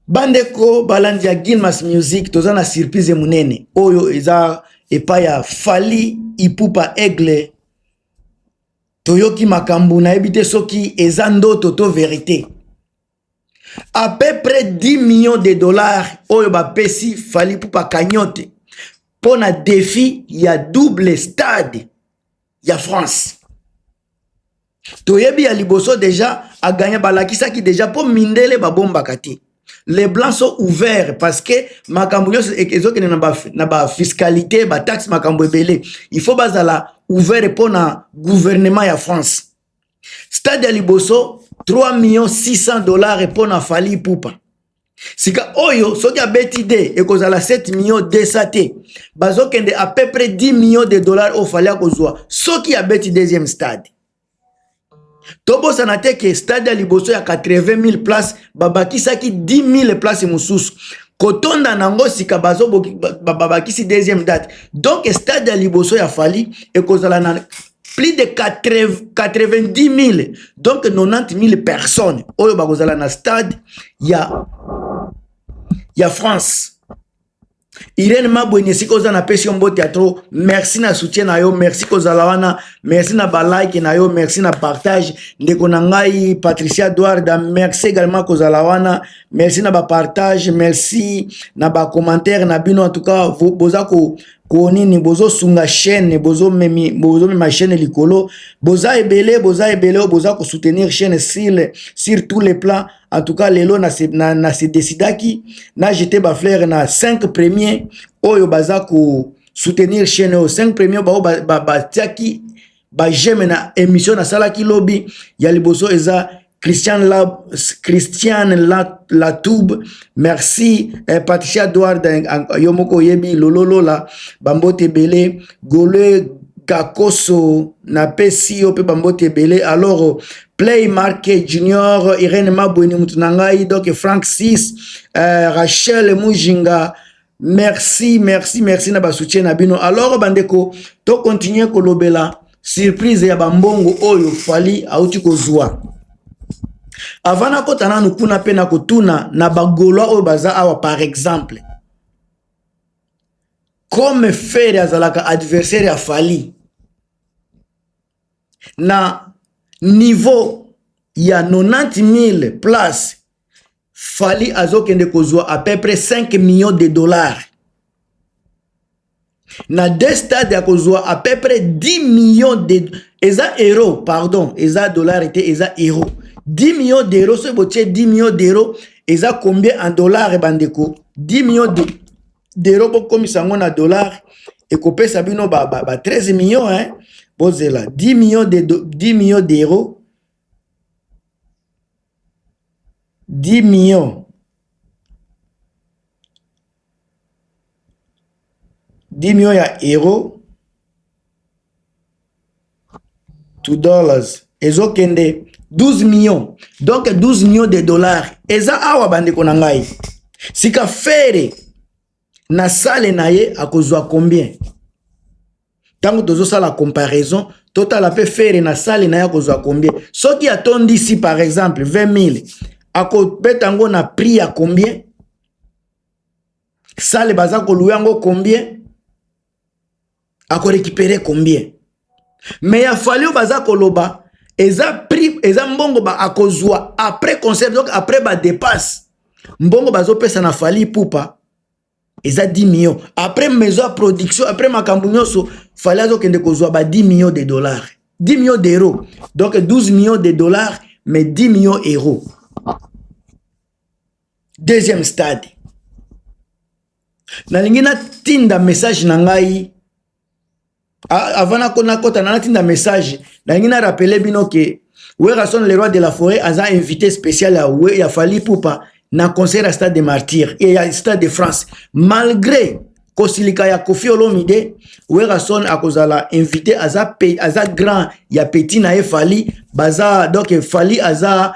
bandeko balandi ya gilmas music toza na surprise monene oyo eza epai ya fali ipupa aigle toyoki makambo nayebi te soki eza ndoto to verite à peu près 10 millions de dollars oyo bapesi fali ipupa cagnote mpo na defi ya double stade ya france toyebi ya liboso deja aganya balakisaki deja mpo mindele babombaka te les blancs sont ouverts parce que makambo nyonso e-, ezokende na bafiscalité ba bataxe makambo ebele il faut bazala ouvert mpo na gouvernement ya france stade ya liboso 3 millions 600 dollars mpo na fali pupa sika oyo soki abeti de ekozala 7 million 200 te bazokende à peu près 10 million de dollars oyo fali akozwa soki abeti deuxième stade tobosana te ke stade ya liboso ya 80 000 place babakisaki 10 000 place mosusu kotonda na yango sika babakisi deuxième date donc stade ya liboso ya fali ekozala na plus de 90.000 donc 90.000 personnes oyo bakozala na stade ya ya France Irene Mabweni esika oza na pesi yo mbote ya trop merci na soutien na yo merci kozala wana merci na ba like na yo merci na partage ndeko na ngai Patricia Eduarda merci également kozala wana merci na ba partage merci na ba commentaire na bino en tout cas boza ko ko nini bozosunga chaîne bozomemi bozomema chaîne likolo boza ebele boza ebele oyo boza kosoutenir chaîne sur, sur tous les plans en tout cas lelo na se, na, na se décidaki na jete bafleur na 5 premier oyo baza kosoutenir chaîne oyo 5 premier baoyo batiaki ba, ba, ba j'aime na émission na salaki lobi ya liboso eza Christian la Christian la la tube merci eh, Patricia Edward eh, yo moko yebi lololola bambote belé gole kakoso na pesi yo pe bambote belé alors play mark junior Irène Mabweni mutu na ngai donc Frank 6 eh, Rachel Mujinga merci merci merci na basoutien na bino alors bandeko to continue kolobela surprise ya bambongo oyo fali auti kozwa avant nakota nanu kuna mpe na kotuna na bagolois oyo baza awa par exemple comme fere azalaka adversaire ya fali na niveau ya 90 000 place Fally azokende kozwa à peu près 5 millions de dollars na deux stades ya kozwa à peu près 10 millions de eza euro pardon eza dollar te eza euro 10 millions d'euros soki botie 10 millions d'euros eza combien en dollar bandeko 10 millions de dero bokomisa yango na dollar ekopesa bino ba, ba, ba 13 millions hein? bozela 10 millions de 10 millions d'euros dimio dimio ya hero to dollars ezokende 12 mio donk 12 mio de dollars eza awa bandeko na ngai sika fere na sale na ye akozwa combien ntango tozosala comparaison totala mpe fere na sale na ye akozwa combien soki atondisi par exemple 20 000 akobeta yango na prix ya combien sale baza kolua yango combien akorekipere combien me ya fali oyo baza koloba eza prix eza mbongo ba akozwa après concert donc après badepasse mbongo bazopesa na fali pupa eza 10 millions après maison ya production après makambo nyonso fale azokende kozwa ba 10 millions de dollars 10 millions d'euros donc 12 millions de dollars mais 10 millions euros deuxième stade nalingi natinda message na ngai Ah, avant nako nakota na natinda message nalingi na rappeler bino ke Werrason le roi de la forêt aza invité spécial ya, we, ya Fally Poupa na concert ya stade de martyr et ya stade de France malgré kosilika ya Koffi Olomide Werrason akozala invité aza, pe, aza grand ya petit na ye Fally baza donc Fally aza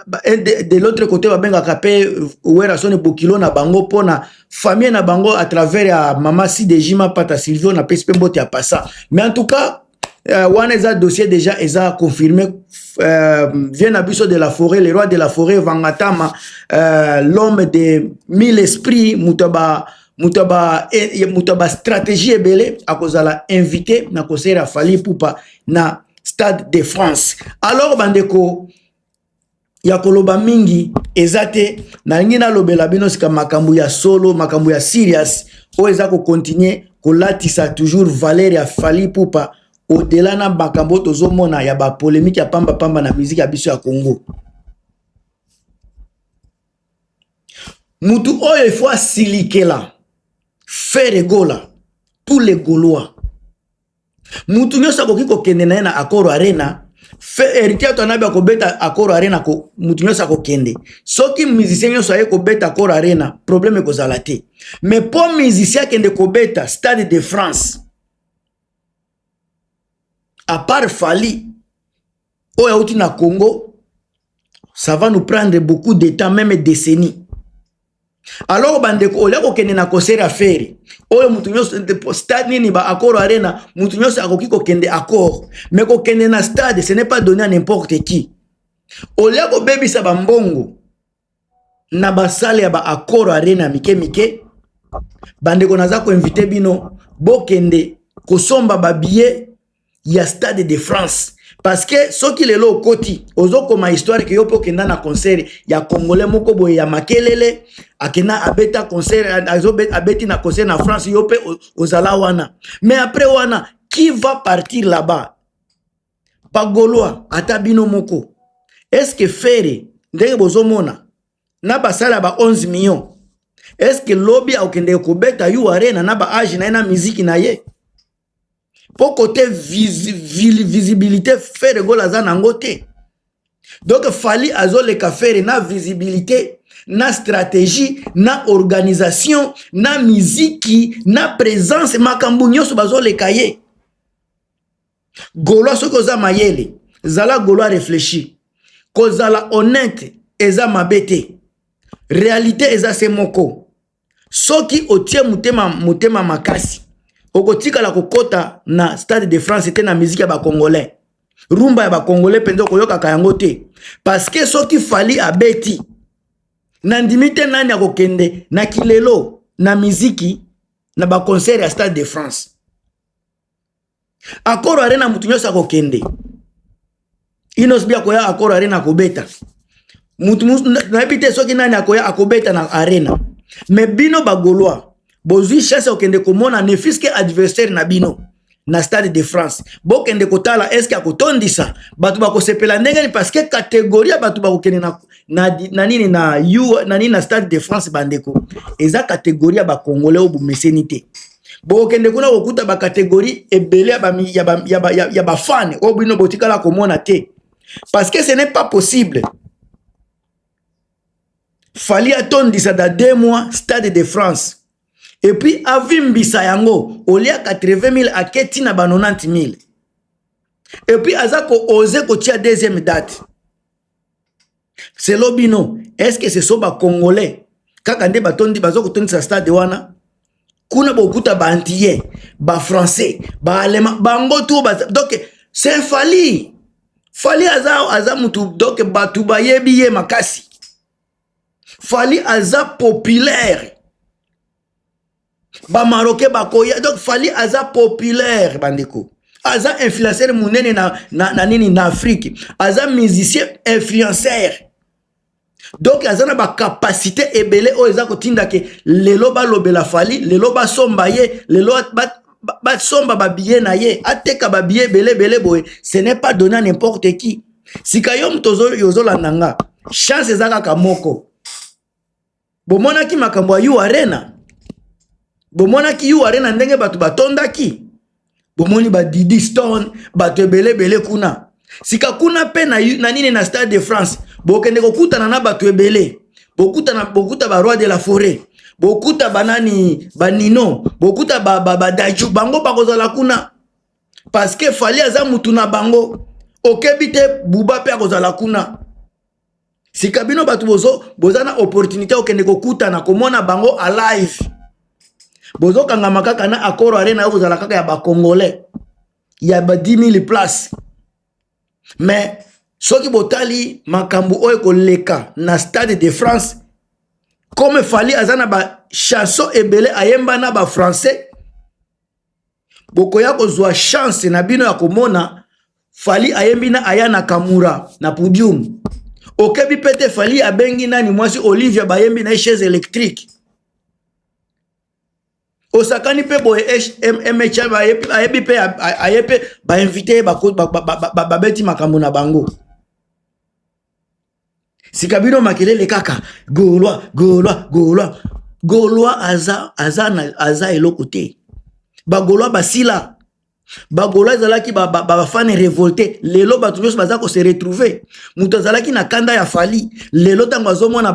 de, de l'autre côté babengaka pe Werrason bokilo na bango pona famille na bango à travers ya mama CDJ Mapata Silvio na pesi pe mbote ya passa mais en tout cas euh, wana eza dossier déjà eza confirmé euh, vient na biso de la forêt le roi de la forêt Vangatama euh, l'homme de mille esprits moto ba moto ya ba eh, moto ya ba stratégie ebele akozala invité na concert ya Fally Ipupa na Stade de France alors bandeko ya koloba mingi eza te nalingi nalobela bino sika makambo ya solo makambo ya serious oyo eza kokontinue kolatisa toujours valeur ya fali ipupa odela na makambo oyo tozomona ya bapolemike ya pambapamba na miziki ya biso ya congo mutu oyo efo asilikela fere gola tous les golois mutu nyonso akoki kokende na ye na Accor Arena Heritier Watanabe akobeta Accor Arena ko mutu nyonso akokende soki musicien nyonso aye kobeta Accor Arena problème ekozala te mais mpo musicien akende kobeta Stade de France à part Fally oyo auti na congo ça va nous prendre beaucoup de temps meme décennie alors bandeko olia kokende na concert ya feri oyo moto nyonso stade nini ba accord arena moto nyonso akoki kokende accord mais kokende na stade ce n'est pas donné à n'importe qui olia kobebisa bambongo na basale ya ba accord arena mike mike bandeko naza koinvite bino bokende kosomba babillet ya stade de france parce que soki lelo okoti ozokoma histoire ke yo mpe okenda na concert ya congolais moko boye ya makelele akenda abeta concert abeti na concert na france yo mpe ozala wana mais après wana qui va partir là-bas ba golois ata bino moko est ce que fere ndenge bozomona na basala ba 11 millions est ce que lobi akokendeke kobeta yu arena na ba age na ye na miziki na ye mpo kote vis, vis, visibilité fere gol aza na yango te donc fali azoleka fere na visibilité na stratégie na organisation na miziki na présence makambo nyonso bazoleka ye Golois soki oza mayele, zala Golois réfléchi. Kozala honnête eza mabe te. Réalité eza se moko. Soki otie motema motema makasi, okotikala kokota na Stade de France te na musique ya ba Congolais. Rumba ya ba Congolais penza okoyokaka yango te. Parce que soki Fally abeti, nandimi te nani akokende na kilelo na miziki na ba concert ya Stade de France. akoro arena motu nyonso akokende inos bi akoya akoro arena akobeta motu nayebi te soki nani akoya akobeta na arena me bino bagolois bozwi chance ya kokende komona ne fiske adversaire na bino na stade de france bokende kotala eske akotondisa bato bakosepela ndenge nini parceke kategori ya bato bakokende na, na, na nini na, na, nini na stade de france bandeko eza kategori ya bakongole oyo bomeseni te bokokende kuna kokuta bacatégorie ebele ya bafane oyo bino botikala komona te parce que ce n'est pas possible fali atondisa da deux mois stade de france et puis avimbisa yango olia 80 000 ake ntina ba 90 000 et puis aza koose kotia deuxième date selo bino est ce que ce sont ba congolais kaka nde batondi baza kotondisa stade wana kuna bokuta ba antillais ba français ba allemand bango tu donc c'est fali fali aza aza mutu donc bato bayebi ye makasi fali aza populaire ba marocain bakoya donc fali aza populaire bandeko aza influenceur monene na, na, na nini na afrique aza musicien influenceur donc aza na bacapacité ebele oyo eza kotinda ke lelo balobela fali lelo basomba ye lelo basomba ba, ba babiye na ye ateka babiye ebele ebele boye ce n'est pas donné à n'importe qui sika yo moto ozolanda nga chance eza kaka moko bomonaki makambo ya u arena bomonaki u arena ndenge bato batondaki bomoni badidi stone bato ebele ebele kuna sika kuna mpe na, na nini na stade de france bokende kokutana na bato ebele bokutana bokuta baroi de la forêt bokuta banani banino bokuta badaju ba, ba bango bakozala kuna parceke fali aza mutu na bango okebi te buba mpe akozala kuna sika bino bato bozo boza na opportunité okende kokutana komona bango a live bozokangama kaka na accord arena yo kozala kaka ya bacongolais ya ba 10 000 place mais soki botali makambo oyo ekoleka na stade de france comme fali aza na bachanson ebele ayemba na bafrançais bokoya kozwa chance na bino ya komona fali ayembi na aya na kamura na podium okebi mpe te fali abengi nani mwasi olivia bayembi na ye chaise électrique osakani mpe boye mh ayebi mpe aye mpe bainvite ye babeti makambo na bango sika bino makelele kaka golwa golwa golwa golwa aza, aza, aza eloko te bagolwa basila bagolo ezalaki bafane ba, ba revolte lelo bato nyonso baza kose retrouve moto azalaki na kanda ya fali lelo ntango azomona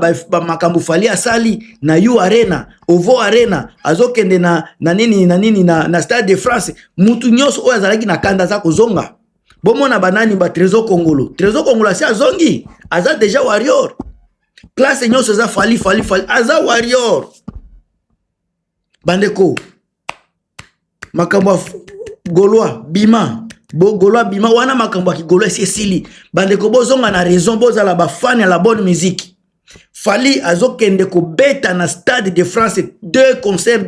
makambo fali asali na u arena ovo arena azokende na, na nini na nini na, na stade de france moto nyonso oyo azalaki na kanda aza kozonga bomona banani ba trésor kongolo trésor kongolo asi azongi aza déjà warrior classe nyonso eza fali fali fali aza warrior bandeko makambo ya golois bima bogolo abima wana makambo ya kigolo esi esili bandeko bozonga na raison bozala bafani ya la bonne musique Fally azokende kobeta na stade de France deux concerts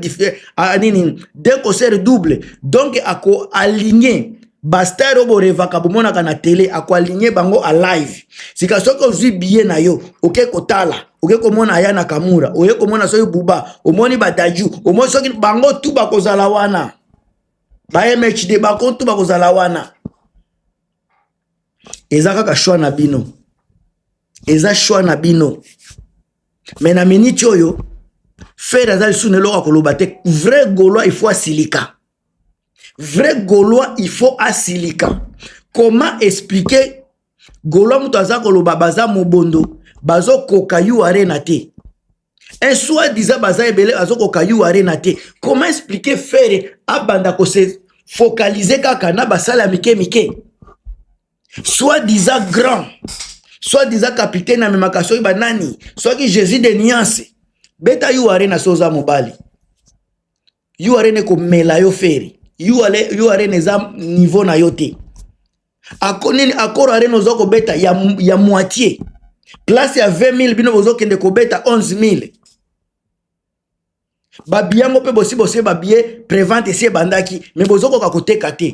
ah, nini deux concerts double donc ako aligner bastar oyo borevaka bomonaka na tele akoaligne bango a live sika soki ozwi biye na yo oke kotala oke komona aya na kamura oye komona soki buba omoni badaju omoni soki bango tu bakozala wana ba mhd bango tu bakozala wana eza kaka shwa na bino eza choix na bino mais na minute oyo fere aza lisusu na eloko ya koloba te vrai gaulois il faut asilika vrai gaulois il faut asilika comment expliquer gaulois moto aza koloba baza mobondo bazokoka yu arena te un soit disant baza ebele bazokoka yu arena te comment expliquer fere abanda kose focaliser kaka na basala mike mike soit disant grand soit disant capitaine amemaka soki banani soki jésus de niance beta yu arena so oza mobali yu arena ekomela yo feri yu arena eza niveau na yo te ako nini akoro arena oza kobeta ya, ya moitié place ya 20 000 bino bozokende kobeta 11 000 babi yango mpe bosi bosi babie prevente esi ebandaki me bozokoka koteka te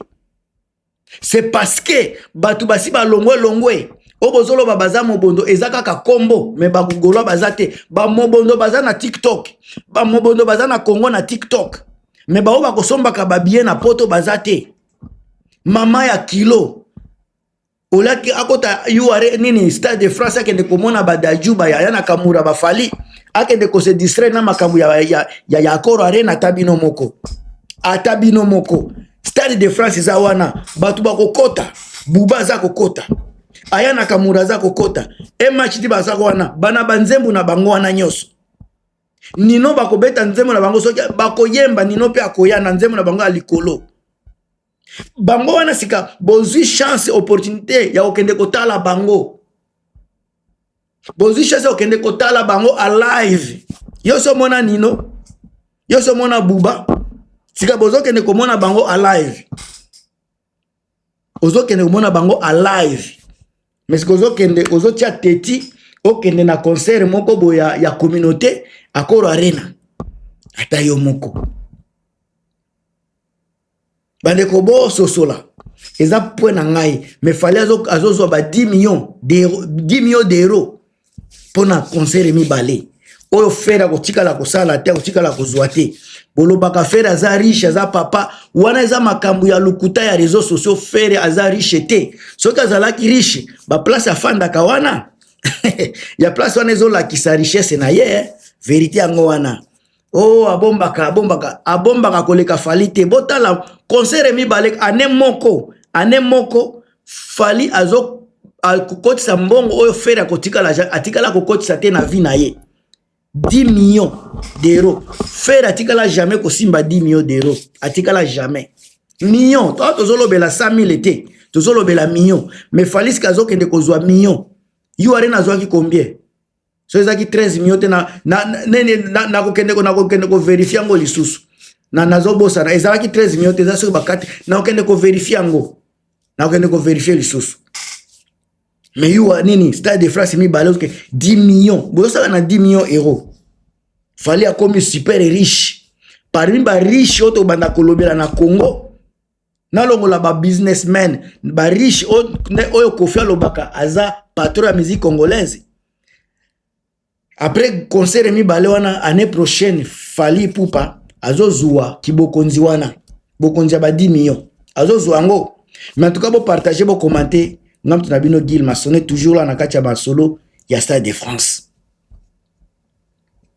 se parceke bato basi balongwe longwe oyo bozoloba baza mobondo eza kaka kombo me bagolois baza te bamobondo baza na tiktok bamobondo baza na congo na tiktok me baoyo bakosombaka babie na poto baza te mama ya kilo olaki akota ure nini stade de france akende komona badaju bayaya na kamura bafali akende kose distraire na makambo ya, ya, ya, ya akoro arena ata bino moko ata bino moko stade de france eza wana bato bakokota buba aza kokota aya na kamura aza kokota mhd baza wana bana banzembo na bango wana nyonso nino bakobeta nzembo na bango soki bakoyemba nino mpe akoya na nzembo na bango ya likolo bango wana sika bozwi chance opportunité ya kokende kotala bango bozwi chance ya kokende kotala bango alive yo so omona nino yo so omona buba sika bozokende komona bango alive ozokende komona bango alive mais sika ozokende ozotia teti okende na concert moko boye ya, ya communauté akoro arena ata yo moko bandeko bososola eza point na ngai me fali azozwa ba 10 million 10 million d'euro mpo na concert mibale oyo fere akotikala kosala te akotikala kozwa te bolobaka fere aza riche aza papa wana eza makambo ya lokuta ya réseau sociaux fere aza riche te soki azalaki riche baplace afandaka wana ya place wana ezolakisa richesse na ye eh. verité yango wana oh abombaka abombaka abombaka koleka fali te botala concert mibale ane moko ane moko fali azo akokotisa mbongo oyo fere akotikala atikala kokotisa te na vie na ye 10 millions d'euros fere atikala jamais kosimba 10 millions d'euros atikala jamais million to tozolobela 100 000 te tozolobela million mais faliske azokende kozwa million yo arena azwaki combien soki ezalaki 13 million te nakokende na, na, na, na koverifie yango lisusu na nazobosana ezalaki 13 million te eza soki bakati nakokende koverifie yango nakokende koverifie lisusu mais yuwa nini stade de france mibale oke 10 million bozosala na 10 million euro fali akomi super riche parmi bariche oyo tobanda kolobela na congo nalongola ba businessmen ba riche oyo kofi alobaka aza patron ya musique congolaise après concert mibale wana année prochaine fali pupa azozua kibokonzi wana bokonzi ya ba 10 million azozua yango mais en tout cas bopartage bocommente nga moto na bino gile masone toujours la na kati ya masolo ya stade de france